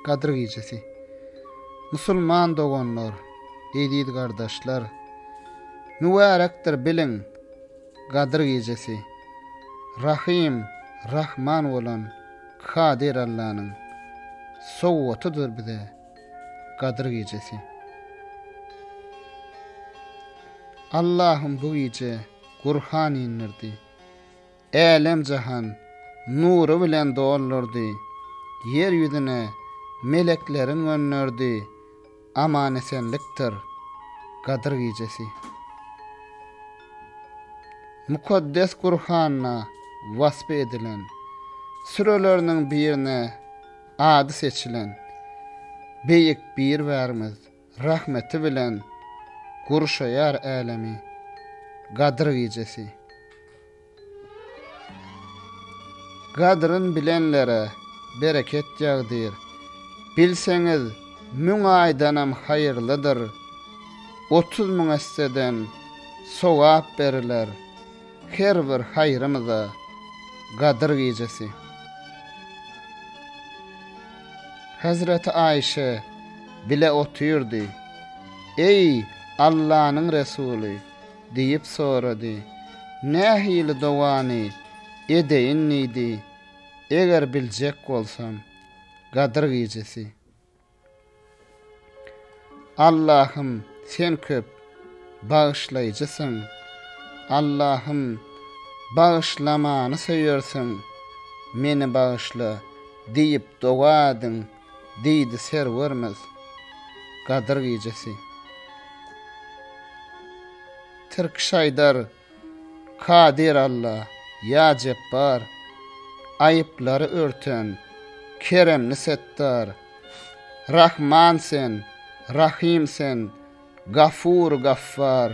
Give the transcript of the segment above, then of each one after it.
Gadyr gijesi. Musulman doganlar, eziz gardaşlar! Mübärekdir, biliň, Gadyr gijesi. Rahym, Rahman bolan Kadyr Allanyň sowgatydyr bize Gadyr gijesi. Allahym bu gije Gurhan indirdi. Älem-jahan nury bilen doldurdy. Ýer ýüzüne meleklerin gönderdi. Aman-esenlikdir Gadyr gijesi. Mukaddes Gurhanda waspy edilen, süreleriniň birine ady seçilen Beýik Birbärimiz, Rahmeti bilen gurşaýar älemi, Gadyr gijesi. Gadryn bilenlere bereket ýagdyr, Bilseňiz, müň aýdanam haýyrlydyr, Otuz müň esseden sogap beriler, Her bir haýrymyza Gadyr gijesi. Hezreti Aýşe bile otyrdy. Eý, Allanyň Resuly! diýip sorady. Nähili dogany edeýin diýdi, eger biljek bolsam? Gadyr gijesi. Allahym sen köp bagyşlaýjysyň Allahym bagyşlamany söýersiň meni bagyşla diýip doga ediň diýdi Serwermiz Gadyr gijesi Tirki şaýdar Kadyr Alla, Ýa Jepbar, Aýyplary örten, Keremli Setdar, Rahman Sen, Rahym Sen, Gafur Gaffar,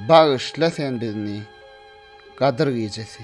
Bagyşla Sen bizni. Gadyr gijesi.